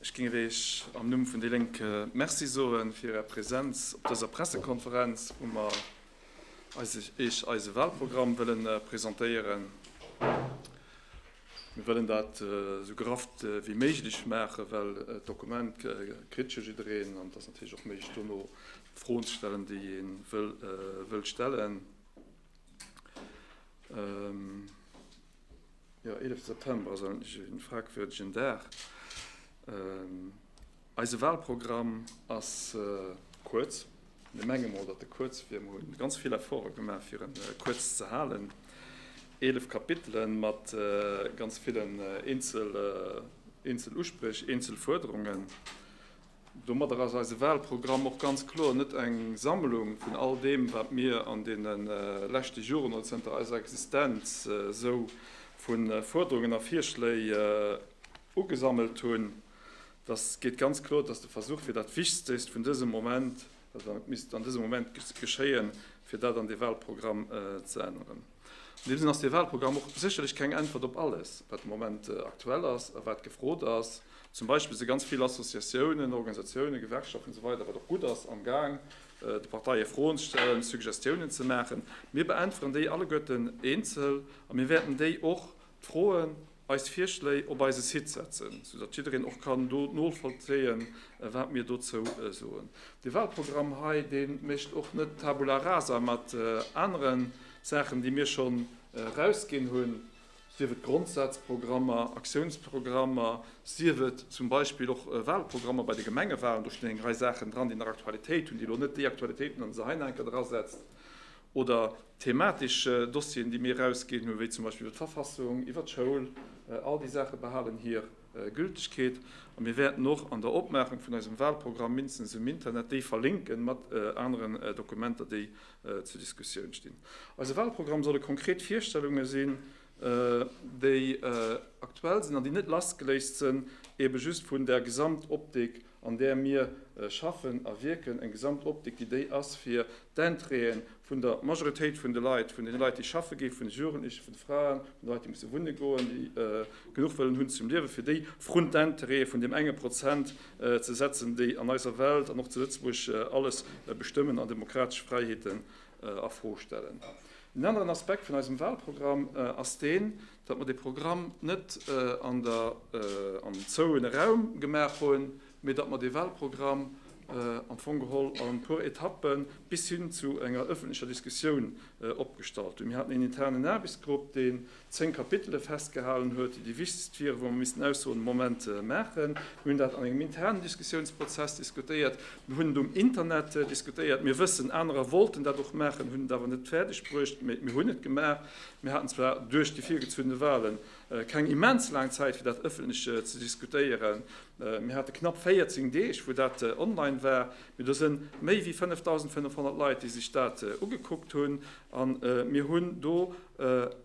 Ech géing Iech am Numm vun déi Lénk Merci soe fir Är Präsenz op dëser Pressekonferenz, wou mer Iech eise Wahlprogramm wëlle presentéieren. Mir wëllen dat esou gerafft wéi méiglech maachen, well d'Dokument kritt jo jiddereen an et ass natierlech och méiglech dono d'Froen ze stellen, déi ee wëll stellen. Jo, 11 September ass eigentlech en fragwürdegen Dag. Eise Wahlprogramm ass kuerz. Mir menge mol, datt e kuerz wier. Mer hu ganz vill Efforte gemaach, fir e kuerz ze halen. Eelef Kapitele mat ganz villen eenzel Uspréch, eenzel Fuerderungen. Domadder ass eise Wahlprogramm och ganz kloer net eng Sammlung vun all deem, wat mir an deene leschte Joren oder zënter eiser Existenz esou vu Fuerderungen a Virschléi ugesammelt hunn. Datt geet ganz kloer, datt de Versuch wier, dat Wichstégst vun dësem Moment, Dat misst an dësem Moment geschéien, fir dat an dee Wahlprogramm ze änneren. An deem Sënn ass dee Wahlprogramm och sécherlech keng Äntwert op alles, wat de Moment aktuell ass a wat gefrot ass. Zum Beispill si ganz vill Associatiounen, Organisatiounen, Gewerkschaften esou weider, wat och gutt ass, amgaang de Parteie Froen ze stellen, Suggestiounen ze maachen. Mir beäntweren déi alleguerten eenzel a mir wäerten déi och, d'Froen, eis Virschléi op eise Site setzen, sou datt jiddereen och kann do novollzéien, wat mir dozou soen. De Walprogramm hei, dee mécht och net tabula rasa mat anere Saachen, déi mir schonn erausginn hunn, sief et Grondsazprogrammer, Aktiounsprogrammer, sief et zum Beispill och Walprogrammer bei de Gemengewalen. Do stinn eng Rei Saachen dran, déi nach Aktualitéit hunn, déi elo net déi Aktualitéit hunn, an se hei nach eng Kéier drasetzt. oder thematesch Dossieren, déi mir erausginn hu wéi zum Beispill iwwer d'Verfassung, iwwer d'Schoul, all déi Saache behalen hir Gültegkeet. A mir wäerten och an der Opmaachung vun eisem Wahlprogramm mindestens um Internet déi verlinken mat aneren Dokumenter, déi zur Diskussioun stinn. Eise Wahlprogramm solle konkret Virstellunge sinn, déi aktuell sinn an déi net lassgeléist sënn eebe just vun der Gesamtoptik, an där mir schaffen a wierken, eng Gesamtoptik, déi déi ass, fir d'Intérêten vun der Majoritéit vun de Leit, vun deene Leit, déi schaffe ginn, vun de Jugendlechen, vun de Fraen, vun de Leit, déi musse wunne goen, déi genuch wëllen hunn zum Liewen, fir déi vrun d'Intérêten vun deem enge Prozent ze setzen, déi an eiser Welt an och zu Lëtzebuerg alles bestëmmen an demokratesch Fräiheeten a Fro stellen. Een aneren Aspekt vun eisem Wahlprogramm ass deen, Datt mer dee Programm net an der am zouene Raum gemaach hunn, mee datt mer dee Wahlprogramm am Fong geholl a puer Etappen bis hin zu enger ëffentlecher Diskussioun opgestallt hunn. Mir haten een internen Aarbechtsgrupp, deen zéng Kapitele festgehalen huet, déi déi wichtegst wieren, wou mer missten Aussoen de Moment maachen. Mir hunn dat an engem internen Diskussiounsprozess diskutéiert. Mir hunn et um Internet diskutéiert. Mir wëssen, anerer wollten dat och maachen, hunn et awer net fäerdegbruecht, mee mir hunn et gemaach. Mir haten zwar duerch déi virgezunnene Wahlen keng immens laang Zäit fir dat ëffentlech ze diskutéieren, mir hate knapp 14 Deeg wou dat online war, mee do sënn méi wéi 5.500 Leit déi sech dat ugekuckt hunn, an mir hunn do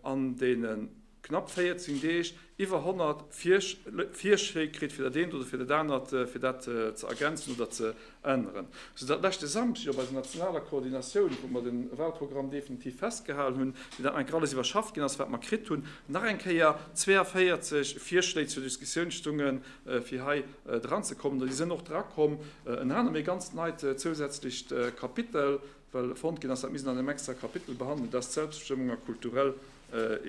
an deenen knapp 14 Deeg Iwwer 100 Virschléi kritt fir dat eent oder fir dat anert, fir dat ze ergänzen oder ze änneren. Sou datt leschte Samschdeg op eiser nationaler Koordinatioun, wou mer de Wahlprogramm definitiv festgehalen hunn, fir dat nach eng Kéier alles iwwerschaff ginn ass, wat mer kritt hunn, nach eng Kéier 42 Virschléi zur Diskussioun stunge fir hei dranzekommen. An déi sënn och drakomm, ënner anerem ee ganz neit zousätzlecht Kapitel, well fonnt ginn ass, dat misst een an engem extra Kapitel behandelen, dat ass d'Selbstbestëmmung a kulturell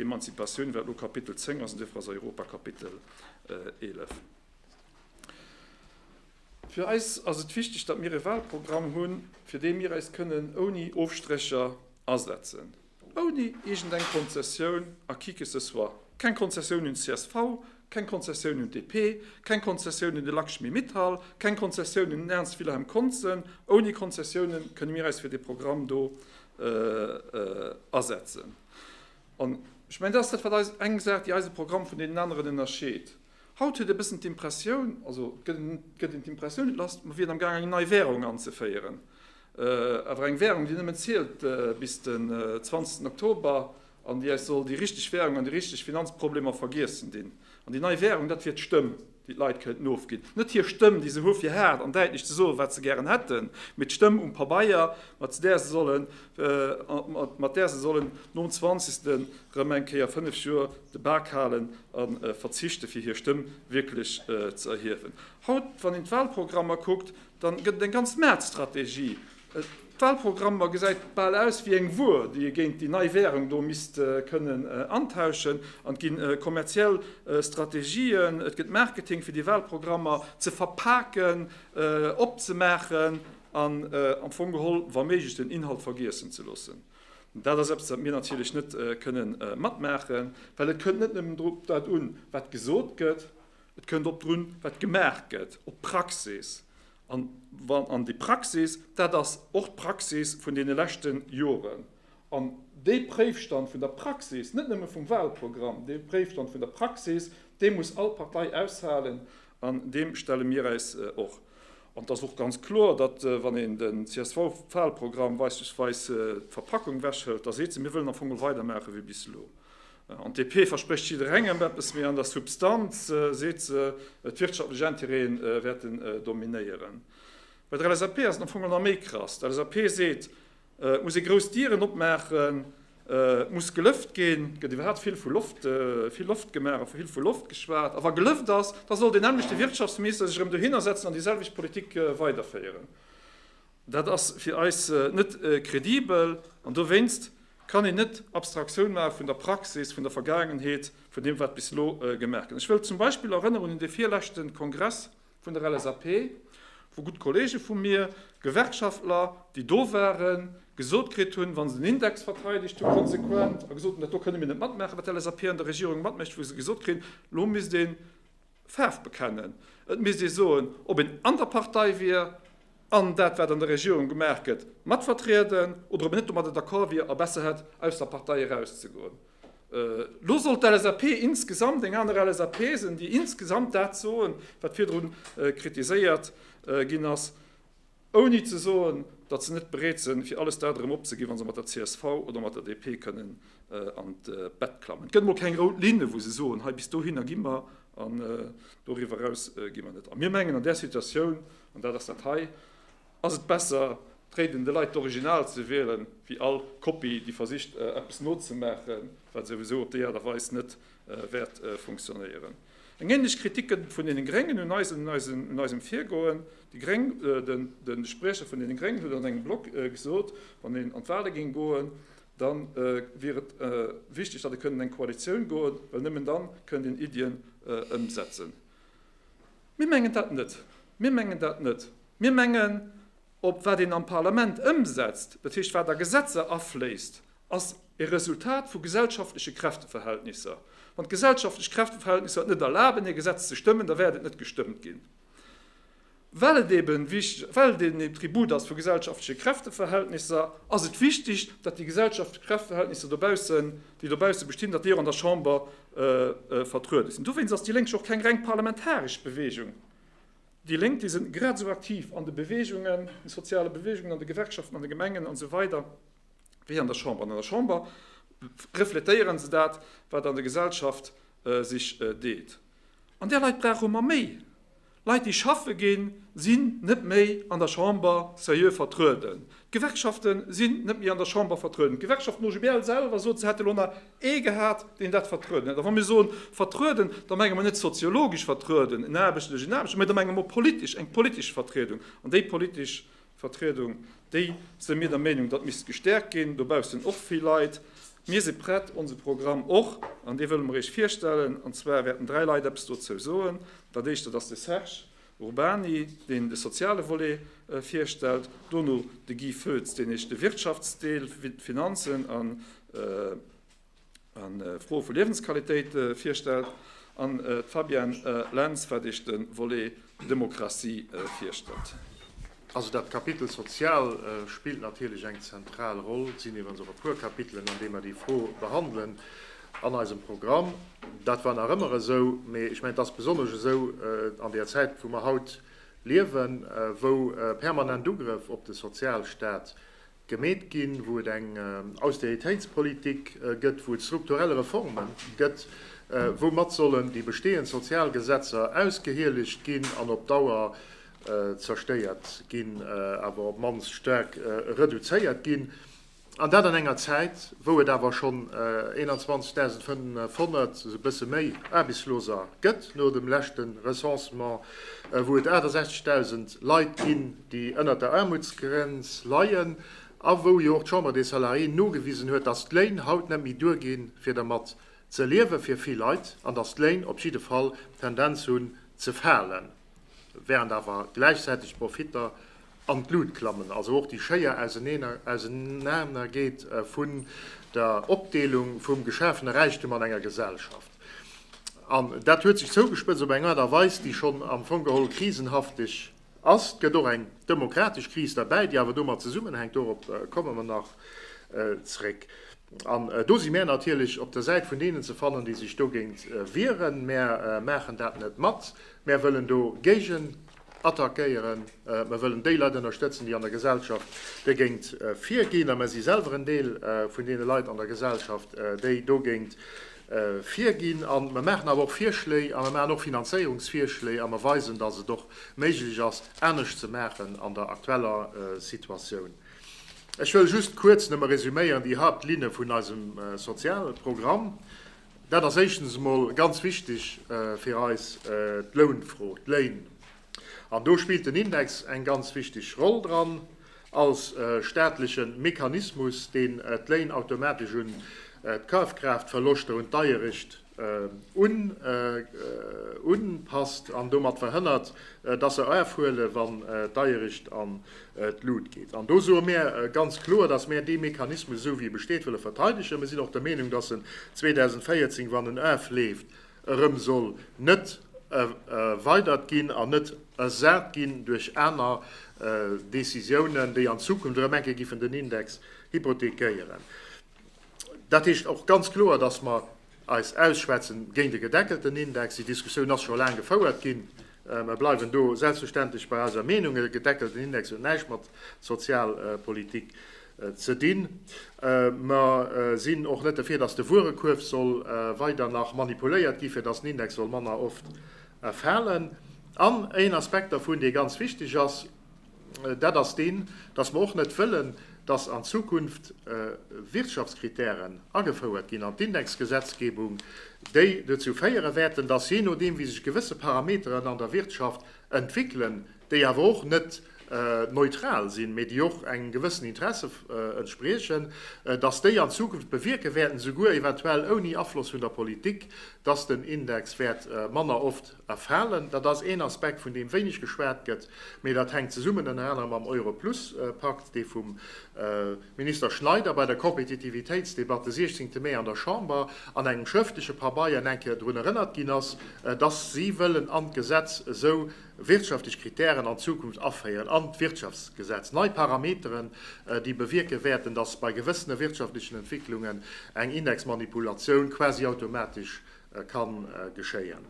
Emanzipatioun, wat elo Kapitel 10 ass, an duerfir ass Europa Kapitel 11. Fir eis ass et wichteg, datt mir e Walprogramm hunn, fir dee mir eis kënnen ouni Ofstrécher asetzen. Ouni iergend eng Konzessioun à qui que ce soit. Keng Konzessioun un csv, keng Konzessioun un DP, keng Konzessioun un de Lakshmi Mittal, keng Konzessioun un den Ernst Wilhelm Conzen. Ouni Konzessiounen kënne mir eis fir dee Programm do asetzen. An ech mengen, dat ass dat, wat eis, eng Saach, déi eise Programm vun deenen aneren ënnerscheet. Haut huet ee bëssen d'Impressioun, also gëtt een d'Impressioun, et lass, mer wieren am Gaang eng nei Währung anzeféieren. Awer eng Währung, déi nëmmen zielt bis den 20 Oktober an déi eis soll déi richteg Währung an déi richteg Finanzproblemer vergiessen dinn. An déi nei Währung, dat wier d'Stëmm, déi d'Leit kënnt nofginn. Net hir Stëmm, déi se hu fir haart an däitlech ze soen, wat se gären hätten, mee d'Stëmm um Pabeier, mat där se solle mat där se sollen nom Zwanzegsten erëm eng Kéier fënnef Joer de Bak halen a verzichten, fir hir Stëmm wierklech ze erhiewen. Haut, wann een d'Walprogrammer kuckt, da gëtt et eng ganz maart Strategie. D'Walprogrammer gesäit bal aus wéi eng Wuer, déi ee géint déi nei Währung do misst kënnen antauschen. An et gi kommerziell Strategien, et gëtt Marketing, fir déi Walprogrammer ze verpaken, opzemaachen, An am Fong geholl, wa méiglech, den Inhalt vergiessen ze loossen. Dat ass eppes, wat mir natierlech net kënne matmaachen, well et kënnt net nëmmen drop dat un, wat gesot gëtt, et kënnt och drun, wat gemaach gëtt, op d'Praxis. An wann an déi Praxis, dat ass och d'Praxis vun deene leschte Joren. An dee Préifstand vun der Praxis, net nëmme vum Wahlprogramm, dee Préifstand vun der Praxis, dee muss all Partei aushalen. An deem stelle mir äis och. An et ass och ganz kloer, datt, wann een den CSV-Wahlprogramm beispillsweis d'Verpackung ewechhëlt, da seet se, mir wëllen am Fong geholl weidermaache wéi bis elo. An d'DP versprécht jidderengem eppes, mee an der Substanz seet se, d'wirtschaftlech Intérêten wäerten dominéieren. Bei der LSAP ass et am Fong nach méi krass. D'LSAP seet, Et muss ee grouss Dieren opmaachen, et muss gelëft ginn, et gëtt iwwerhaapt vill vu Loft, vill Loft gemaach a vill vu Loft geschwat. A wa gelëft ass, da soll deen nämmlechte Wirtschaftsminister sech erëm dohinner setzen an déi selwecht Politik weiderféieren. Dat ass fir eis net kredibel an dowéinst kann een net Abstraktioun maache vun der Praxis, vun der Vergaangenheet, vun deem wat bis elo gemaach gëtt. Ech wëll zum Beispill erënneren un dee virleschte Kongress, Vun der LSAP hu gutt Kollege vu mir, Gewerkschaftler, déi do waren, gesot kritt hunn, wa se den Index verteidegt hu konsequent a gesot hunn, dat do kënne mir net matmaachen, wat d'LSAP an der Regierung matmécht, wou se gesot kritt hunn, elo misst ee Faarf bekennen, et misst ee soen, ob een an der Partei wier an dat wat an der Regierung gemaach gëtt matvertrieden oder ob een net domadder d'accord wier a besser hätt aus der Partei erauszegoen. Lo soll d'LSAP insgesamt eng aner LSAP sen, déi insgesamt dat soen, wat virdru kritiséiert ginn ass, ouni ze soen, datt se net bereet sen, fir alles dat erëm opzeginn, wa se mat der csv oder mat der DP kënnen an d'Bett klammen. Et gëtt emol keng rout Linne, wou se soen, hei bis dohinner gi mer an doriwwer eraus gi mer net. A mir mengen an där Situatioun, an dat ass dat hei, Ass et besser, d'Réiden de Leit d'Original ze wielen, wéi all Kopie, déi versicht, eppes nozemaachen, wat souwisou op déi Aart a Weis net wäert funktionéieren? Eng ähnlech Kritik gëtt et vun deene Gréngen un eisem Virgoen. De Spriecher vun deene Gréngen huet an engem Blog gesot, wann een an d'Wahle géing goen, da wier et wichteg, datt ee kënnt an eng Koalitioun goen, well nëmmen da kënnt een Iddien ëmsetzen. Mir mengen dat net. Mir mengen dat net. Mir mengen, ob wat een am Parlament ëmsetzt, dat heescht wat a Gesetzer afléisst, ass e Resultat vu gesellschaftleche Kräfteverhältnisser. Wann d'gesellschaftlech Kräfteverhältnisser et net erlaben, e Gesetz ze stëmmen, da wäert et net gestëmmt ginn, well et eben wichteg, well et eben e Tribut ass vu gesellschaftleche Kräfteverhältnisser, ass et wichteg, datt déi gesellschaftleche Kräfteverhältnisser dobaussen, déi dobausse bestinn, datt déi och an der Chamber vertruede sinn. Dowéinst ass déi Lénk jo och keng reng parlamentaresch Beweegung. Déi Lénk, déi sinn grad esou aktiv an de Beweegungen, de soziale Beweegungen, an de Gewerkschaften, an de Gemengen an esou weider wéi an der Chamber. An an der Chamber refletéieren se dat, wat an der Gesellschaft sech deet. An där Leit brauche mer méi. Leit déi schaffe ginn, sinn net méi an der Chamber serieux vertrueden. D'Gewerkschaften sinn net méi an der Chamber vertrueden. D'Gewerkschaften OGBL selwer sot, se hätte lo nach ee gehat, deen dat vertrueden hätt. A wa mir soen vertrueden, da menge mir net soziologesch vertrueden, en Aarbechter duerch en Aarbechter, mä da menge mir politesch, eng politesch Vertriedung. An déi politesch Vertriedung, déi, sou mir der Meenung, datt misst gestäerkt ginn. Dobaussen och vill Leit. Mir si prett, onse Programm och, an dee wëlle mer Iech virstellen. An zwar wäerten dräi Leit eppes dozou soen. Dat éischt, dat ass de Serge Urbany, deen de soziale Volet virstellt. Dono de Guy Foetz, deen Iech de Wirtschaftsdeel, Finanzen an. an Froe vu Liewensqualitéit virstellt, an d'Fabienne Lentz, wat Iech de Volet Demokratie virstellt. Also dat Kapitel Sozial spillt natierlech eng zentral Roll. Et sinn iwwerens och e puer Kapitelen, an deem mer déi Fro behandelen an eisem Programm. Dat war nach ëmmer esou, mee ech mengen, et ass besonnesch esou an där Zäit, wou mer haut liewen, wou permanent Ugrëff op de Sozialstaat gemeet ginn, wou et eng Austeritéitspolitik gëtt, wou et strukturell Reforme gëtt, woumat sollen déi bestehend Sozialgesetzer ausgehieligt ginn an op Dauer zerstéiert ginn, awer op d'mannst staark reduzéiert ginn, an dat an enger Zäit, wou et awer schonn 21.500, e bësse méi, Aarbechtsloser gëtt no dem leschte Recensement, wou et 68.000 Leit ginn, déi ënnert der Aarmutsgrenz leien a wou jo och d'Chambre des Salariés nogewisen huet, dass d'Léin haut net méi duerginn, fir dermat ze liewen, fir vill Leit, an dass d'Léin op jidde Fall d'Tendenz hunn ze falen, während awer gläichzäiteg d'Profitter an d'Lut klammen. Also och déi schéier Ausenanergeet vun der Opdeelung vum geschafene Räichtum an enger Gesellschaft. An dat huet sech zougespëtzt op eng Aart a Weis, déi schonn am Fong geholl krisenhafteg, Ass. Et gëtt och eng demokratesch Kris derbäi, déi awer domat zesummenhänkt, dorop komme mer nach zréck. An do si mär natierlech op der Säit vun deenen ze fannen, déi sech dogéint wieren. Mär maachen dat net mat. Mär wëllen do géigenattackéieren. Mer wëllen déi Leit ënnerstëtzen, déi an der Gesellschaft dogéint virginn. A mer si selwer en Deel vun deene Leit an der Gesellschaft, déi dogéint virginn a mer maachen awer och Virschléi a mer maachen och Finanzéierungsvirschléi a mer weisen, dass et och méiglech ass, anescht ze maachen an der aktueller Situatioun. Ech wëll just kuerz nëmme resüméieren déi Hauptlinne vun eisem Sozialprogramm. Dat ass éischtens emol ganz wichtig fir eis d'Lounfro, d'Léin. An do spillt den Index eng ganz wichteg Roll dran, als staatleche Mechanismus, deen d'Léin automatesch un d'Kafkraaftverloschter, un d'Deierecht unpasst an domat verhënnert, dass se erfhuelen, wann d'Deierecht an d'Lut geet. An do soe mir ganz kloer, dass mir dee Mechanismus, esou wéi e besteet, wëlle verteidegen. Mir sinn och der Meenung, dass en 2014, wann en erfleeft, erëm soll net erweidert ginn an net ersat ginn duerch aner Décisiounen, déi an Zukunft erëm eng Kéier giffen den Index hypothekéieren. Dat heescht och ganz kloer, dass mer eis ausschwätzen géint e gedeckelten Index. Déi Diskussioun ass scho laang gefouert ginn. Mer bleiwen do selbstverständlech bei eiser Meenung, e gedeckelten Index huet näischt mat Sozialpolitik ze dinn. Mer sinn och net derfir, dass de Wuerekuerf soll weider nach manipuléiert ginn, fir dass den Index soll manner oft falen. An een Aspekt dervun, dee ganz wichteg ass, dat ass deen, dass mer och net wëllen, dass an Zukunft Wirtschaftskritären agefouert ginn an d'Indexgesetzgebung, déi dozou féiere wäerten, dass jee nodeem wéi sech gewësse Parameteren an der Wirtschaft entwéckelen, déi awer och net neutral sinn, mä déi och engem gewëssen Interesse entspriechen, dass déi an Zukunft bewierke wäerten, souguer eventuell ouni Afloss vun der Politik, dass den Index wäert manner oft. Erfalen. Dat ass een Aspekt, vun deem wéineg geschwat gëtt, mee dat hänkt zesummen ënner anerem mam Euro-Plus-Pakt, dee vum Minister Schneider bei der Kompetitivitéitsdebatt de 16 Mee an der Chamber an engem schrëftleche Pabeier eng Kéier drun erënnert ginn ass, dass si wëllen an d'Gesetz esou wirtschaftlech Kritären an Zukunft aféieren, an d'Wirtschaftsgesetz, nei Parameteren, déi bewierke wäerten, dass bei gewëssene wirtschaftlechen Entwicklungen eng Indexmanipulatioun quasi automatesch ka geschéien.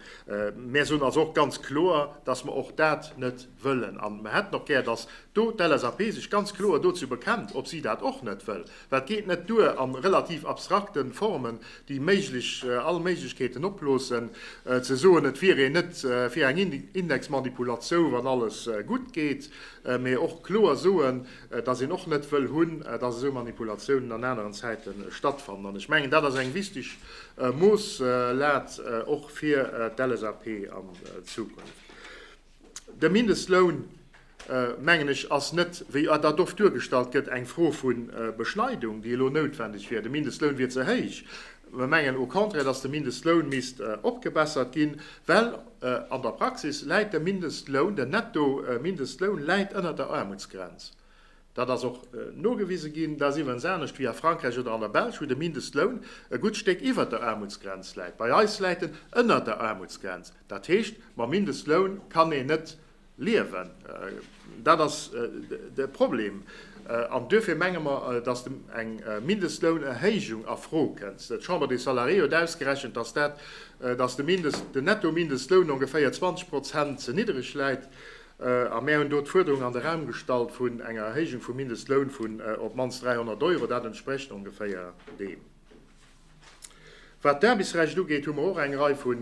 Mär soen also och ganz kloer, dass mer och dat net wëllen. A mer hätten och gär, dass do d'LSAP sech ganz kloer dozou bekennt, ob si dat och net wëll. Well et geet net duer, a relativ abstrakte Formen, déi méiglech all Méiglechkeeten opbloossen, ze soen, et wier een net fir eng Indexmanipulatiou, wann alles gutt geet, mee och kloer soen, dass een och net wëll hunn, dass esou Manipulatiounen an aneren Zäite stattfannen. An ech mengen, dat ass eng wichteg Moosslad och fir d'LSAP an Zukunft. De Mindestloun, mengen ech, ass net, wéi dat oft duergestallt gëtt, eng Fro vu Beschneidung, déi elo noutwendeg wier. De Mindestloun wier ze héich. Mir mengen au contraire, dass de Mindestloun misst opgebessert ginn, well an der Praxis läit de Mindestloun, den Netto-Mindestloun läit ënnert der Aarmutsgrenz. Dat ass och nogewise ginn. Dat ass iwwerens anescht wéi a Frankräich oder an der Belsch, wou de Mindestloun e gutt Stéck iwwert der Aarmutsgrenz läit. Bei eis läit en ënnert der Aarmutsgrenz. Dat heescht, mam Mindestloun kann een net Liewen. Dat ass de Problem. An duerfir menge mer, dass de eng Mindestlounerhéijung a Fro kënnst. D'Chambre des Salariés huet ausgerechent, dass dat, dass de Mindest-, den Nettomindestloun ongeféier 20 Prozent ze niddreg läit. A mär hunn do d'Fuerderung an de Raum gestallt vun enger Erhéijung vum Mindestloun vun op d'mannst 300 Euro. Dat entsprécht ongeféier deem. Wat d'Aarbechtsrecht ugeet, hu mer och eng Rei vu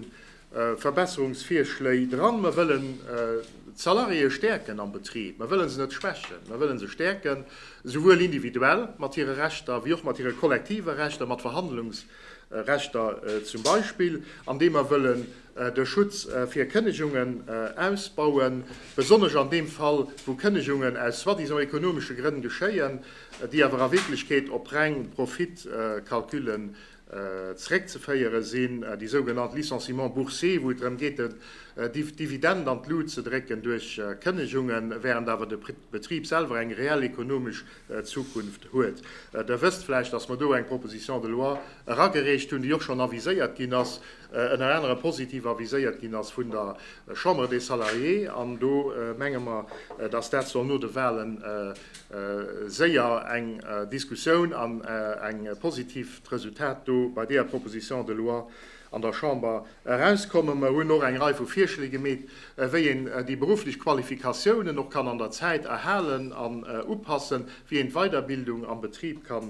Verbesserungsvirschléi dran. Mer wëllen d'Salariéë stäerken am Betrib. Mer wëlle se net schwächen. Mer wëlle se stäerken, souwuel individuell mat hire Rechter wéi och mat hire kollektive Rechter, mat Verhandlungsrechter zum Beispill, andeem mer wëllen de Schutz fir Kënnegungen ausbauen, besonnesch an deem Fall, wou Kënnegungen aus soi-disant ekonomesche Grënn geschéien. déi awer a Wierklechkeet op reng Profitcalculen zeréckzeféiere sinn, déi sougenannt Licenciements boursiers, wou et drëm geet, den Dividend an d'Lut ze drécken duerch Kënnegungen, während awer de Betrib selwer eng reell ekonomesch Zukunft huet. Der wësst vläicht, dass mer do eng Proposition de loi eragereecht hunn, déi och schonn aviséiert ginn ass, ënner anerem positiv aviséiert ginn ass vun der Chambre des Salariés. An do menge mer, dass dat soll no de Wahlen séier eng Diskussioun an eng positivt Resultat do bei deeër Proposition de loi an der Chamber erauskommen. Mer hunn och eng Rei vu Virschléi gemeet, wéi een déi berufflech Qualifikatiounen och kann an der Zäit erhalen an upassen, wéi een d'Weiderbildung am Betrib ka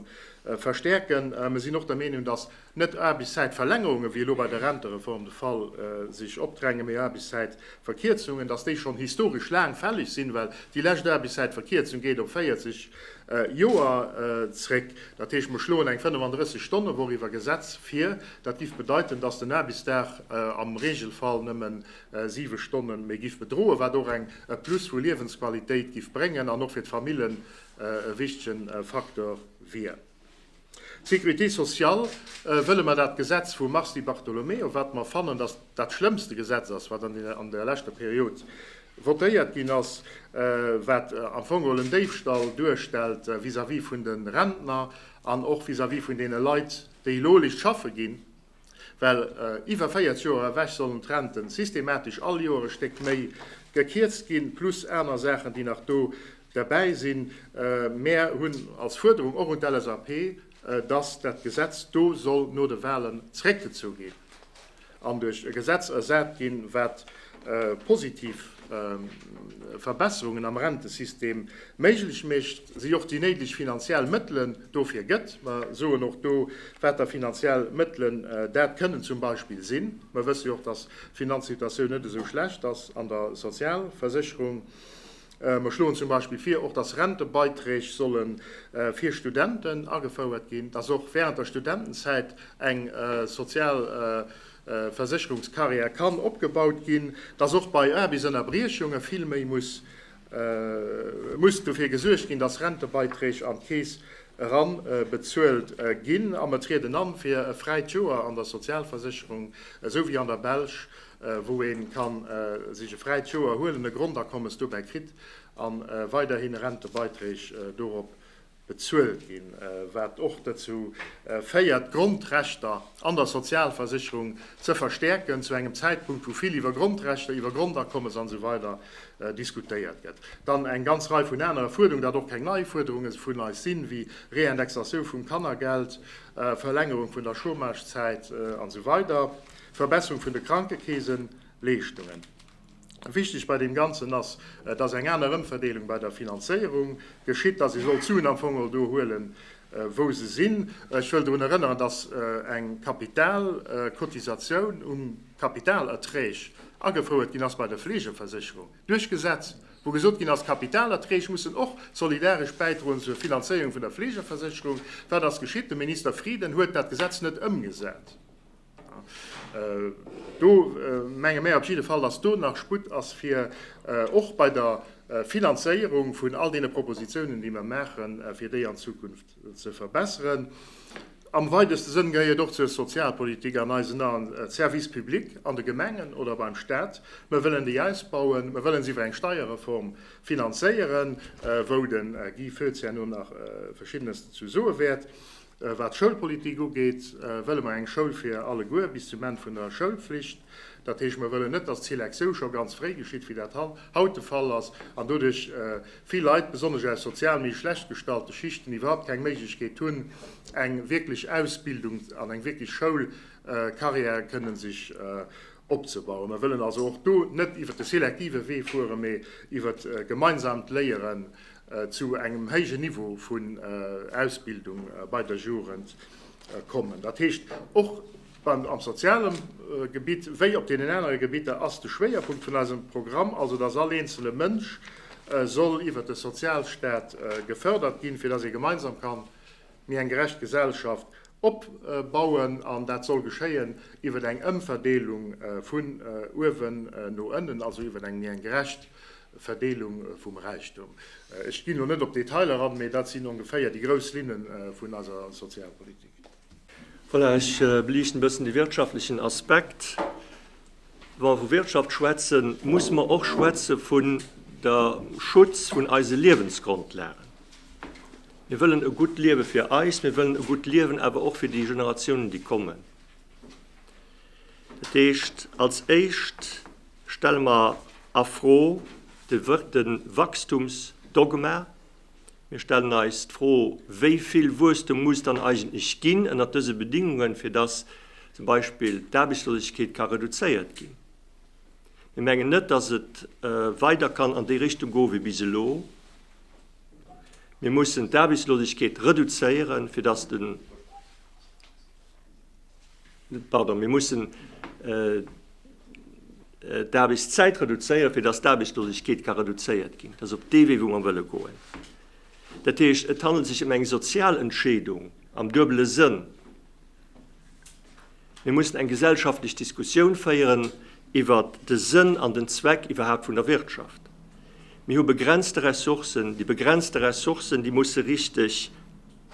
verstärken. Mer sinn och der Meenung, dass Net Aarbechtszäitverlängerungen, wéi elo bei der Rentereform de Fall, sech opdrängen, mee Aarbechtszäitverkierzungen, dass déi schonn historesch laang fälleg sinn, well déi lescht Aarbechtszäitverkierzung geet op 40 Joer zréck. Dat heescht, mer schloen eng 35 Stonnewoch iwwer Gesetz vir. Dat géif bedeiten, dass den Aarbechtsdag am Regelfall nëmme siwe Stonne méi géif bedroen, wat och eng Plus vu Liewensqualitéit géif bréngen an och fir d'Famillen e wichtegen Facteur wier. D'Sécurité sociale wëlle mer dat Gesetz vum Mars Di Bartolomeo, wat mer fannen, datt dat schlëmmste Gesetz ass, wat an der leschter Period votéiert ginn ass, wat am Fong geholl en Déifstall duerstellt vis-à-vis vun de Rentner an och vis-à-vis vun deene Leit, déi elo lech schaffe ginn. Well iwwer 40 Joer ewech sollen d'Renten systematesch all Joer e Stéck méi gekierzt ginn, plus aner Saachen, déi nach do derbäi sinn. Mär hunn als Fuerderung och un d'LSAP, dass dat Gesetz do soll no de Wahlen zréckgezu ginn an duerch e Gesetz ersat ginn, wat positiv Verbesserungen am Rentesystem méiglech mécht, si och déi néideg finanziell Mëttele Dofir gëtt, mer soen och do, wat der finanziell Mëttelen, dat kënnen zum Beispill sinn, mer wësse jo och, dass d'Finanzsituatioun net esou schlecht ass an der Sozialversécherung, mer schloen zum Beispill vir och, dass Rentebeiträg solle fir Studenten agefouert ginn, dass och während der Studentenzäit eng Sozialversécherungscarrière kann opgebaut ginn, dass och bei Aarbechtsënnerbriechunge vill méi muss Et muss dofir gesuergt ginn, dass Rentebeiträg an d'Keess eran bezuelt ginn. A mer trieden an fir e fräit Joer an der Sozialversécherung, esou wéi an der Belsch, wou ee ka sech e fräit Joer huelen, e Grondakommes dobäi kritt a weiderhin Rentebeiträg dorop bezuelt ginn, wat och dozou féiert, d'Grondrechter an der Sozialversicherung ze verstäerken, zu engem Zäitpunkt, wou vill iwwer Grondrechter, iwwer Grondakommes an esou weider diskutéiert gëtt. Dann eng ganz Rei vun anere Fuerderungen, wat och keng nei Fuerderunge vun eis sinn, ewéi Reindexatioun vum Kannergeld, Verlängerung vun der Chômagezäit an esou weider, Verbesserung vun de Krankekeeseleeschtungen. Wichteg bei deem Ganzen ass, dass eng aner Ëmverdeelung bei der Finanzéierung geschitt, dass ee soll d'Suen am Fong och do huelen, wou se sinn. Ech wëll drun erënneren, dass eng Kapitalcotisatioun um Kapitalerträg agefouert ginn ass bei der Fleegeversécherung duerch Gesetz, wou gesot ginn ass, d'Kapitalerträg mussen och solidaresch bäidroen zur Finanzéierung vun der Fleegeversécherung. Wat ass geschitt? De Minister Frieden huet dat Gesetz net ëmgesat. Do menge mär op jidde Fall, dass do nach Sputt ass, fir och bei der Finanzéierung vun all deene Propositionen, déi mer maachen, fir déi an Zukunft ze verbessern. Am weideste Sënn gehéiert et och zur Sozialpolitik an eisen Aen, d'Services publics an de Gemengen oder beim Stat. Mer wëllen déi ausbauen. Mer wëllen se iwwer eng Steierreform finanzéieren, wou de Guy Foetz herno nach Verschiddenes dozou soe wäert. Wat d'Schoulpolitik ugeet, wëlle mer eng Schoul fir alleguer, bis zum Enn vun der Schoulflicht. Dat heescht, mer wëllen net, dass d'Selektioun scho ganz fréi geschitt, wéi dat haut de Fall ass, an doduerch vill Leit, besonnesch aus sozial méi schlecht gestallte Schichten, iwwerhaupt keng Méiglechkeet hunn, eng wierklech Ausbildung an eng wierklech Schoulcarrière kënnen sech opzebauen. Mer wëllen also och do net iwwert de selektive Wee fueren, mee iwwert gemeinsamt Léieren zu engem héijen Niveau vun Ausbildung bei der Jugend kommen. Dat heescht, och am soziale Gebitt wéi op deenen anere Gebitter ass de Schwéierpunkt vun eisem Programm also, dass all eenzele Mënsch soll iwwert de Sozialstaat gefördert ginn, fir dass ee gemeinsam kann méi eng gerecht Gesellschaft opbauen. An dat soll geschéien iwwert eng Ëmverdeelung vun uewen no ënnen, also iwwert eng méi eng gerecht Verdeelung vum Räichtum. Ech ginn elo net op d'Detailer eran, mee dat sinn ongeféier déi grouss Linne vun eiser Sozialpolitik. Voilà, ech beliichten e bëssen de wirtschaftlechen Aspekt. Wa mer vu Wirtschaft schwätzen, musse mer och schwätze vun de Schutz vun eise Liewensgrondlagen. Mir wëllen e gutt Liewe fir eis, mir wëllen e gutt Liewen awer och fir déi Generatiounen, déi kommen. Dat heescht, als Éischt stelle mer a Fro de Wachstumsdogma. Mir stellen eis d'Fro, Wéi vill Wuesstum muss dann eigentlech ginn ënnert dëse Bedingungen, fir dass zum Beispill d'Aarbechtslosegkeet ka reduzéiert ginn? Mir mengen net, dass et weider kann an déi Richtung goen, wéi bis elo. Mir mussen d'Aarbechtslosegkeet reduzéieren, fir dass de. Pardon, mir mussen d'Aarbechtszäit reduzéieren, fir datt d'Aarbechtslosegkeet ka reduzéiert ginn. Dat ass op dee Wee, wou mer wëlle goen. Dat heescht, et handelt sech ëm eng sozial Entscheedung am duebele Sënn. Mir mussen eng gesellschaftlech Diskussioun féieren iwwer de Sënn an den Zweck iwwerhaapt vun der Wirtschaft. Mir hu begrenzte Ressourcen. Déi begrenzte Ressourcen, déi musse richteg.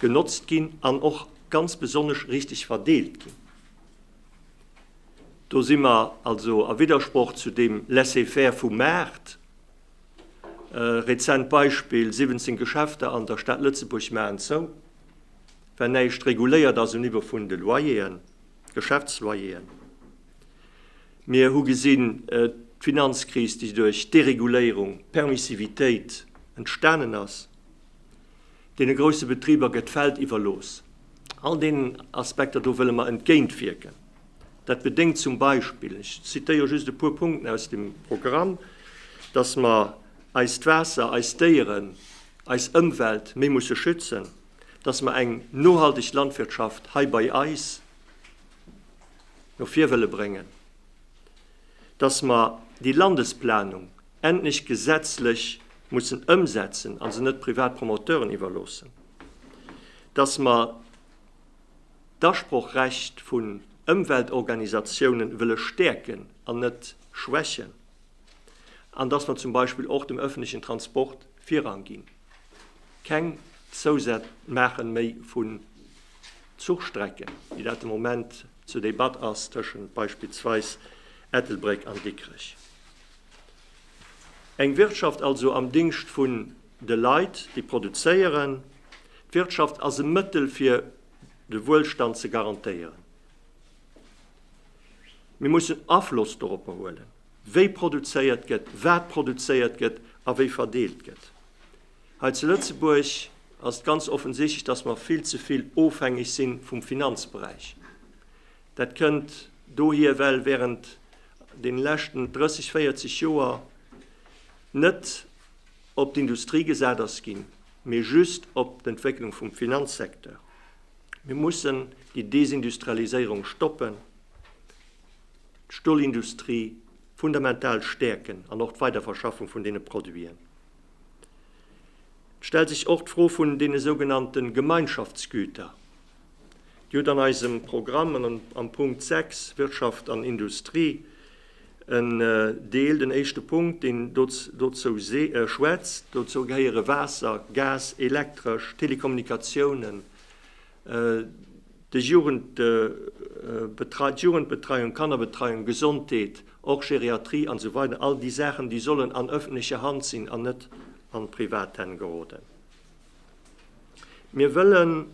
genotzt ginn an och ganz besonnesch richteg verdeelt ginn. Do si mer also a Widdersproch zu deem Laissez-faire vum Maart. Rezent Beispill, 17 Geschäfter an der Stad Lëtzebuerg maachen zou, well näischt reguléiert ass um Niveau vun de Loyeren, Geschäftsloyeren. Mir hu gesinn, d'Finanzkris, déi duerch Dereguléierung, Permissivitéit entstanen ass, Deene grousse Betriber gëtt d'Feld iwwerlooss. All deenen Aspekter do wëlle mer entgéintwierken. Dat bedéngt zum Beispill, ech zitéiere just e puer Punkten aus dem Programm, dass mer eist Waasser, eis Déieren, eis Ëmwelt méi musse schützen, dass mer eng nohalteg Landwirtschaft hei bei eis no vir wëlle bréngen, dass mer déi Landesplanung endlech gesetzlech mussen ëmsetzen a se net privat Promoteuren iwwerloossen, dass mer d'Asprochrecht vun Ëmweltorganisatiounen wëlle stäerken an net schwächen an dass mer zum Beispill och dem öffentlichen Transport Virrang ginn, keng Zousätz maache méi vu Zuchstrecken, wéi dat de Moment zur Debatt ass tëschent beispillsweis Ettelbréck an Dikrech. Eng Wirtschaft also am Dingscht vun de Leit, déi produzéieren. D'Wirtschaft ass e Mëttel fir de Wuelstand ze garantéieren. Mir mussen Afloss doropper huelen, wéi produzéiert gëtt, wat produzéiert gëtt a wéi verdeelt gëtt. Hei zu Lëtzebuerg ass et ganz offensichtlech, datt mer vill ze vill ofhängeg si vum Finanzberäich. Dat kënnt. Dohier well während den leschten 30, 40 Joer net op d'Industrie gesat ass ginn, mee just op d'Entwécklung vum Finanzsecteur. Mir mussen déi Desindustrialiséierung stoppen, d'Stolindustrie fundamental stäerken an och d'Weiderverschaffung vun deene Produiten. Et stellt sech och d'Fro vun deene sougenannte Gemeinschaftsgüter. Dir hutt an eisem Programm am Punkt 6, Wirtschaft an Industrie, en Deel, den éischte Punkt, deen dozou schwätzt. Dozou gehéiere Waasser, Gas, Elektresch, Telekommunikatiounen, d'Jugendbetreiung, Kannerbetreiung, Gesondheet, och Geriatrie an esou weider, all déi Saachen, déi sollen an öffentlecher Hand sinn an net an privat Hänn geroden. Mir wëllen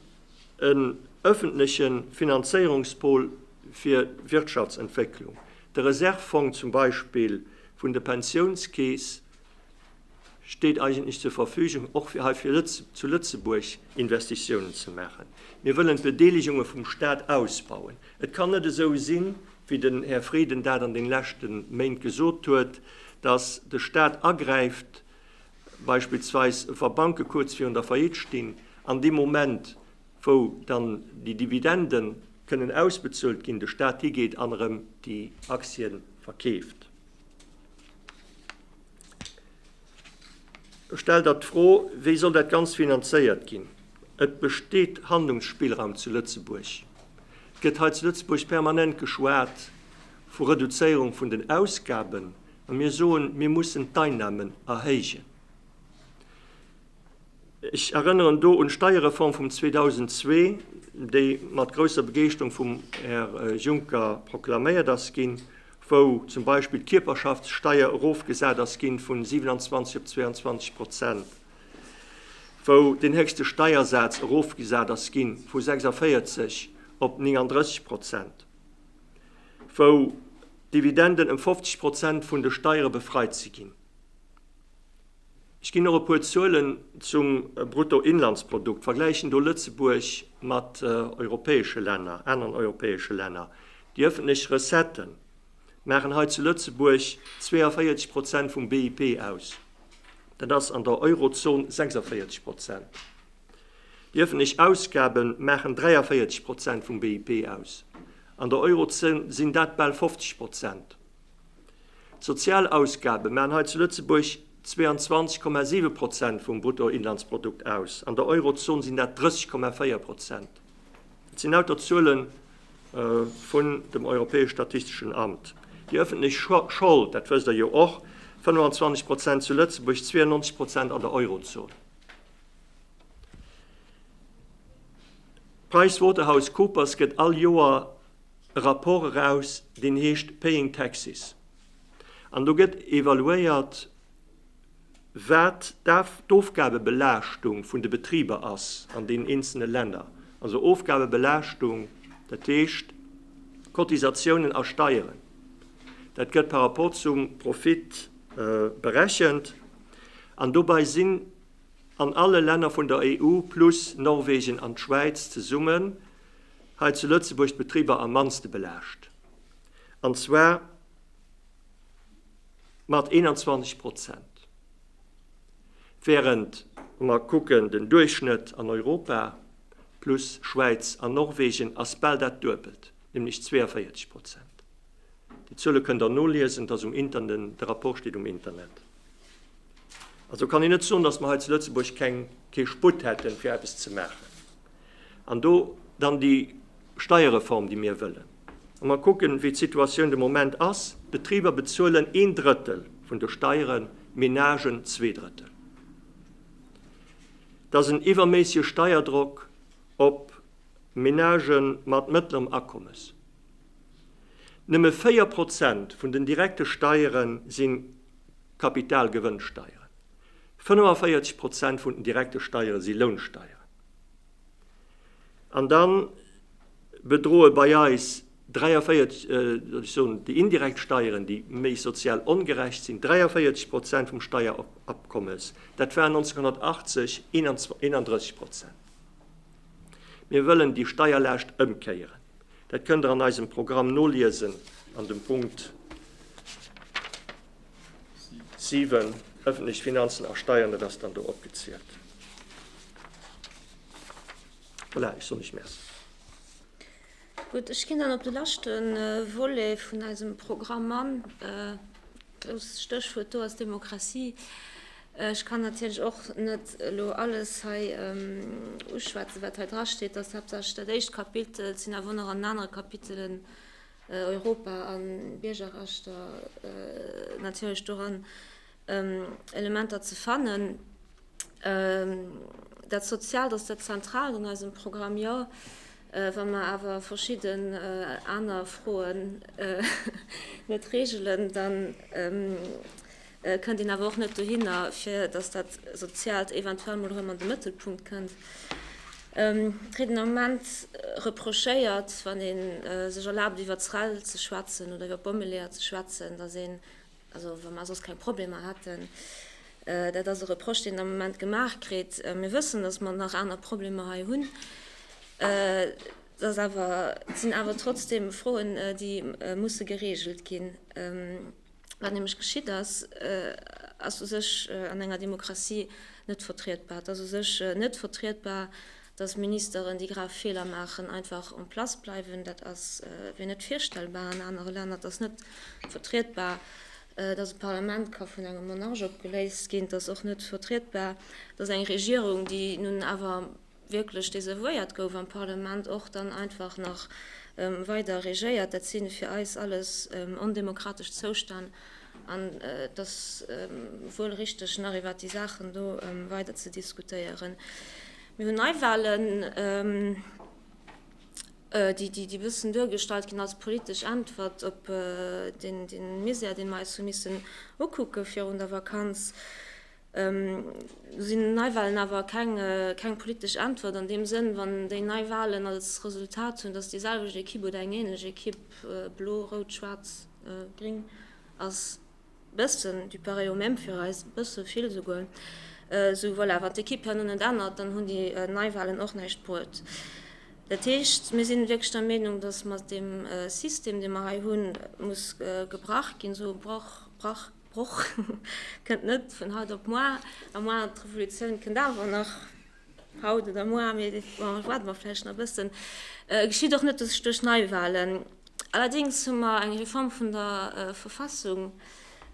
en öffentleche Finanzéierungspol fir Wirtschaftsentwécklung, de Reservefong zum Beispill vun de Pensionskeess steet eigentlech zur Verfügung, och fir hei zu Lëtzebuerg Investitiounen ze maachen. Mir wëllen d'Bedeelegunge vum Stat ausbauen. Et kann net esou sinn, wéi den Här Frieden dat an de leschte Méint gesot huet, dass de Stat agräift Beispillsweis wa Banke kuerz virun der Faillite stinn, an dee Moment wou dann déi Dividenden kënnen ausbezuelt ginn, de Staat higeet an erëm déi Aktien verkeeft. Ech stell der d'Fro, wéi soll dat Ganzt finanzéiert ginn? Et besteet Handlungsspillraum zu Lëtzebuerg. Et gëtt hei zu Lëtzebuerg permanent geschwat vu Reduzéierung vun den Ausgaben, A mir soen, mir mussen d'Einnahmen erhéijen. Ech erënneren do un d'Steierreform vum 2002, déi mat grousser Begeeschterung vum Här Juncker proklaméiert ass ginn, wou zum Beispill d'Kierperschaftssteier erofgesat ass ginn vun 27 op 22 Prozent, wou deen héchste Steiersaz erofgesat ass ginn vu 46 op 39 Prozent, wou Dividenden ëm 50 Prozent vun de Steiere befreit ze ginn. Ech ginn och e puer Zuelen zum Bruttoinlandsprodukt, vergläichen do Lëtzebuerg mat europäesche Länner, aneren europäesche Länner. Déi öffentlech Recettë maachen hei zu Lëtzebuerg 42 Prozent vum BIP aus, dat ass an der Eurozon 46 Prozent. Déi öffentlech Ausgabe maachen 43 Prozent vum BIP aus, An der Eurozon sinn dat bal 50 Prozent. D'Sozialausgabe maachen hei zu Lëtzebuerg 22,7 Prozent vum Bruttoinlandsprodukt aus, an der Eurozon sinn dat 30,4 Prozent. Dat sinn lauter Zuele vun dem Europäesch Statisteschen Amt. Déi ëffentlech Schold, dat wësst Der jo och, 25 Prozent zu Lëtzebuerg, 92 Prozent an der Eurozon. PricewaterhouseCoopers gëtt all Joer e Rapport eraus, deen heescht Paying Taxes. An do gëtt evaluéiert, wat d'Ofgabebelaaschtung vun de Betriber ass an deenen eenzele Länner. Also Ofgabebelaaschtung, dat heescht Cotisatiounen a Steieren, dat gëtt par rapport zum Profit berechent. An dobäi sinn an alle Länner vun der EU plus Norwegen an d'Schwäiz zesummen hei zu Lëtzebuerg d'Betriber am mannste belaascht, an zwar mat 21 Prozent, während mer kucken den Duerchschnëtt an Europa plus Schwäiz an Norwegen ass bal dat Duebelt, nämlech 42 Prozent. Déi Zuele kënn der noliesen, et ass um Interne, de Rapport steet um Internet. Also kann een net soen, datt mer hei zu Lëtzebuerg keng, kee Sputt hätten, fir eppes ze maachen. An do dann déi Steierreform, déi mir wëllen. Wa mer kucken, wéi d'Situatioun de Moment ass, d'Betriber bezuelen een Drëttel vun de Steieren, d'Menagen zwee Drëttel. Et ass en iwwerméissege Steierdrock op Menage mat mëttlerem Akommes. Nëmme 4 Prozent vun den direkte Steiere si Kapitalgewënnsteieren, 45 Prozent vun den direkte Steiere si Lounsteieren. An da bedroe bei eis 43, ech soen déi indirekt Steieren, déi méi sozial ongerecht sinn, 43 Prozent vum Steierofkommes. Dat war 1980 31 Prozent. Mir wëllen déi Steierlaascht ëmkéieren. Dat kënnt Der an eisem Programm noliesen an dem Punkt 7, Öffentlech Finanzen a Steiern, dat ass dann do opgezielt. Voilà, ech soen Iech Merci. Gutt, ech ginn dann op de leschte Volet vun eisem Programm an. Grouss Stéchwuert do ass Demokratie. Ech kann natierlech och net elo alles hei uschwätzen, wat hei drasteet. Et ass haaptsächlech dat éischt Kapitel. Et sinn awer och nach an den anere Kapitelen Europa a Biergerrechter natierlech doran Elementer ze fannen. Dat Soziaalt, ass dat Zentraalt an eisem Programm? Jo. Wa mer awer verschidde aner Froen net reegelen, dann kënnt een awer och net dohinner, fir datt dat Soziaalt eventuell mol erëm an de Mëttelpunkt kënnt. D'Rieden am Moment reprochéiert, wann ee sech erlaabt iwwer d'SREL ze schwätzen oder iwwer d'Bommeleeër ze schwätzen, datt een, also wa mer soss keng Problemer hätten, dat ass e Reproche deen am Moment gemaach kritt, mir wëssen, datt mer nach aner Problemer hei hunn, et ass awer, et sinn awer trotzdem Froen, déi musse geregelt ginn. Wat nämlech geschitt ass, ass u sech an enger Demokratie net vertrietbar. Et ass u sech net vertrietbar, datt Ministeren, déi grav Feeler maachen, einfach en place bleiwen. Dat ass wéi net virstellbar an anere Länner. Et ass net vertrietbar, datt e Parlament ka vun engem Monarch opgeléist ginn. Et ass och net vertrietbar, datt eng Regierung, déi nun awer wierklech desavouéiert gouf am Parlement, och dann einfach nach weider regéiert. Dat si fir eis alles ondemokratesch Zoustänn an et ass wuel richteg, nach iwwert déi Saachen do weider ze diskutéieren. Mir hunn Neiwahlen, déi e bëssen duergestallt ginn als politesch Äntwert op dee Misär, dee mer eis hu missen ukucke virun der Vakanz. Sinn Neiwahlen awer keng politesch Äntwert an deem Sënn, wann déi Neiwahlen als Resultat hunn, datt déi selwecht Ekipp oder eng änlech Ekipp, blo, rout, schwaarz, gring, ass bëssen du pareil au même fir eis, bësse vill esouguer, sou voilà, wann d'Ekipp herno net ännert, dann hunn déi Neiwahlen och näischt bruet. Dat heescht, mir si wierklech der Meenung, datt mat deem System, dee mer hei hunn, muss gebrach ginn, esou brach, brach. D'Epoch kënnt net vun haut op muar, a muar d'Revolutioun kënnt awer nach haut oder muar, mee do waarde mer vläicht nach e bëssen. Et geschitt och net duerch Neiwahlen. Allerdéngs hu mer eng Reform vun der Verfassung,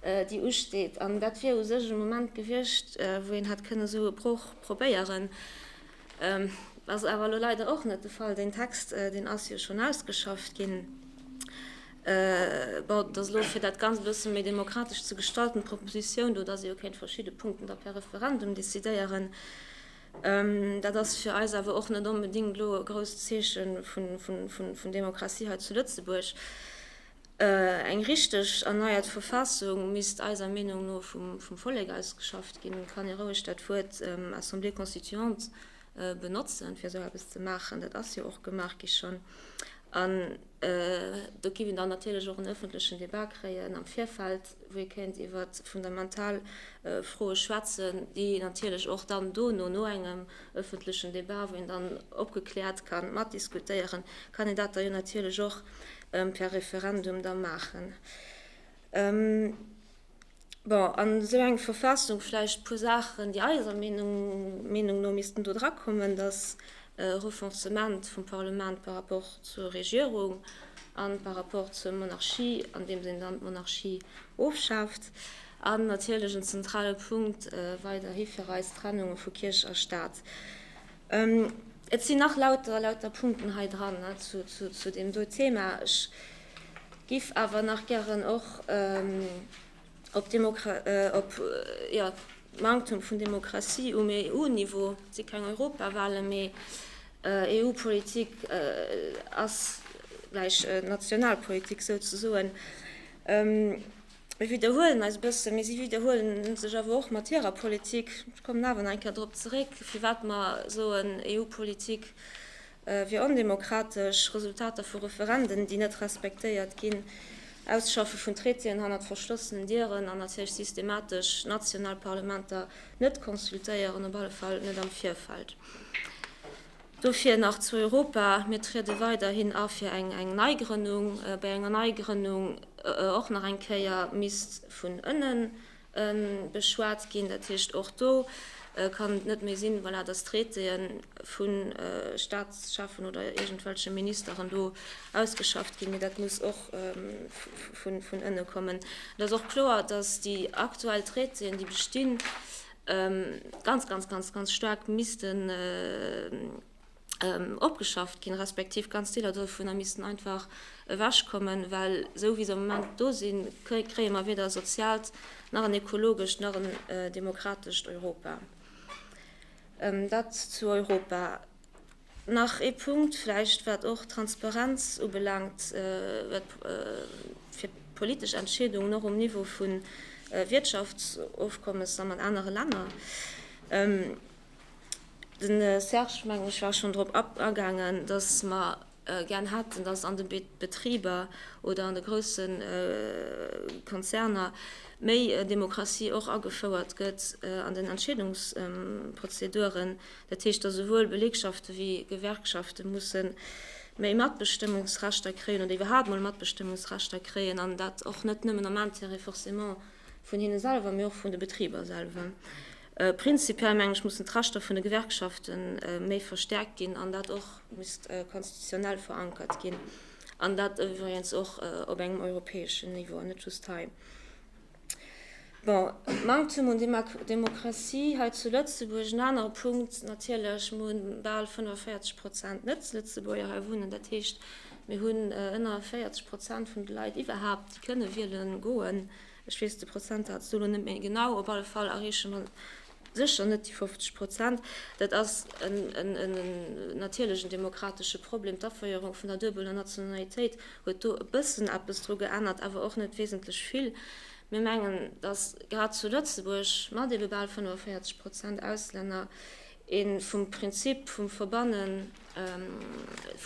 déi usteet, an dat wier u sech e Moment gewiescht, wou een hätt kënne esou e Broch probéieren. Ass awer elo leider och net de Fall. Deen Text, deen ass jo schonn ausgeschafft ginn. Bon, et ass elo, fir dat Ganzt e bësse méi demokratesch ze gestalten, d'Proposition do, dass ee jo kéint verschidde Punkten da per Referendum decidéieren. Dat ass fir eis awer och net onbedéngt elo e grousst Zeeche vun Demokratie hei zu Lëtzebuerg. Eng richteg erneiert Verfassung misst eiser Meenung no vum Vollek ausgeschafft ginn. Kann ee roueg dat Wuert Assemblée constituante benotzen, fir esou eppes ze maachen? Dat ass jo och gemaach gi schonn. An do géif een dann natierlech och en öffentlechen Debat kréien am Virfeld, wou ee kéint iwwer fundamental Froe schwätzen, déi natierlech och dann dono, no engem öffentlechen Debat, wou een dann opgekläert ka matdiskutéieren, kann een dat da jo natierlech och per Referendum da maachen. Bon, a sou eng Verfassung, vläicht e puer Saachen, déi eiser Meenung no missten do drakommen, dass e Renforcement vum Parlement par rapport zur Regierung a par rapport zur Monarchie, andeems een dann d'Monarchie ofschaaft, an natierlech en zentrale Punkt weiderhi fir eis d'Trennung vu Kierch a Stat. Et sinn nach lauter, lauter Punkten hei dran zu deem do Thema. Ech géif awer nach gären och op d'Manktum vun Demokratie um EU-Niveau, et si keng Europawahlen, mee EU-Politik ass gläich Nationalpolitik souzesoen, Mir widderhuelen eis e bëssen, mee si widderhuele sech awer och mat hirer Politik. Ech kommen awer nach eng Kéier drop zeréck, firwat mer soen, EU-Politik wier ondemokratesch, Resultater vu Referenden, déi net respektéiert ginn, Ausschaffe vun Traitéen hannert verschlossenen Dieren an natierlech systematesch national Parlamenter net consultéieren, op alle Fall net am Virfeld. Dofir nach zu Europa, Mir triede weiderhin a fir eng Neigrënnung. Bei enger Neigrënnung och nach eng Kéier misst vun ënne beschwat ginn. Dat heescht, och do kann et net méi sinn, voilà, datt Traitéë vu Staatschefen oder iergendwelche Ministeren do ausgeschafft ginn, mee dat muss och vun ënne kommen. Et ass och kloer, datt déi aktuell Traitéen, déi bestinn, ganz ganz ganz ganz staark missten opgeschafft ginn, respektiv ganz Deeler dovunner missten einfach ewech kommen, well esou wéi se am Moment do sinn, kréie mer weder e soziaalt nach en ekologescht nach en demokratescht Europa. Dat zu Europa. Nach ee Punkt vläicht, wat och d'Transparenz ubelaangt, wat fir d'politesch Entscheedungen och um Niveau vu Wiertschaftsofkommesser mat anere Länner. De Serge, mengen ech, war schonn drop agaangen, datt mer gär hätten, datt an de Betriber oder an de grousse Konzerner méi Demokratie och agefouert gëtt an den Entscheedungsprozeduren. Dat heescht, datt esouwuel Belegschaften wéi Gewerkschaften mussen méi Matbestëmmungsrechter kréien oder iwwerhaapt mol Matbestëmmungsrechter kréien, an dat och net nëmmen am Intérêt forcément vun hinne selwer, mee och vun de Betriber selwer. Prinzipiell, mengen ech, mussen d'Rechter vun de Gewerkschaften méi verstärkt ginn an dat och misst konstitutionell verankert ginn, an dat iwwregens och op engem europäeschen Niveau an net just hei. Bon, Manktum un Demokratie hei zu Lëtzebuerg. En anere Punkt natierlech, Mir hunn bal 45 Prozent Net-Lëtzebuerger hei wunnen. Dat heescht, mir hunn ënner 40 Prozent vun de Leit iwwerhaupt, déi kënne wiele goen. Ech weess de Prozentsaz elo net méi genau. Op alle Fall erreeche mer Sécher net déi 50 Prozent. Dat ass en natierlechen demokratesche Problem. D'Aféierung vun der duebeler Nationalitéit huet do e bëssen eppes dru geännert, awer och net wesentlech vill. Mir mengen, datt grad zu Lëtzebuerg mat ebe bal 45 Prozent Auslänner ee vum Prinzip vum Verbanne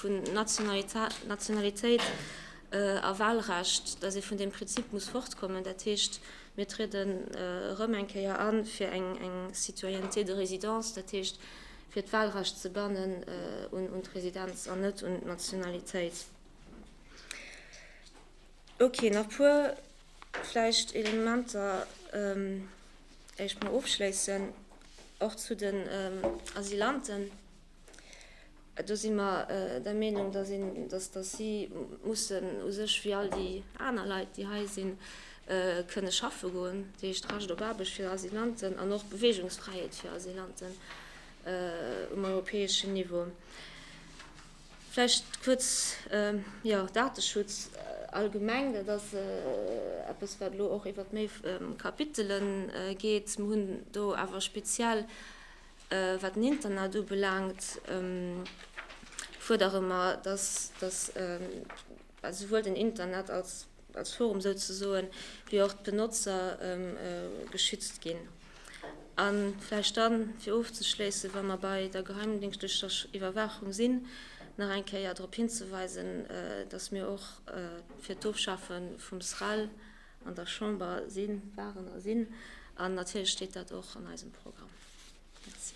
vun Nationalitéit a Walrecht, datt ee vun deem Prinzip muss fortkommen. Dat heescht. Mir trieden erëm eng Kéier a fir eng Citoyenneté de résidence, dat heescht, fir d'Wahlrecht ze bannen un d'Residenz an net un d'Nationalitéit. Ok, nach puer vläicht Elementer, éicht mer ofschléissen, och zu den Asylanten. Do si mer der Meenung, dass si mussen u sech wéi all déi aner Leit, déi hei sinn, kënne schaffe goen, dat heescht Recht op Aarbecht fir Asylanten an och Beweegungsfräiheet fir Asylanten um europäeschen Niveau. Vläicht kuerz, jo, Dateschutz allgemeng, dat ass eppes, wat elo och iwwert méi Kapitele geet. Mir hunn do awer speziell Wat den Internat ubelaangt, fuerdere mer, dass esouwuel den Internet als Forum souzesoen, wéi och d'Benotzer geschützt ginn. A vläicht da fir ofzeschléissen, wa mer bei der geheimdéngschtlecher Iwwerwaachung sinn, nach eng Kéier drop hinzeweisen, dass mir och fir d'Ofschafe vum SREL, an der Chamber sinn, waren a sinn, an natierlech steet dat och an eisem Programm. Merci.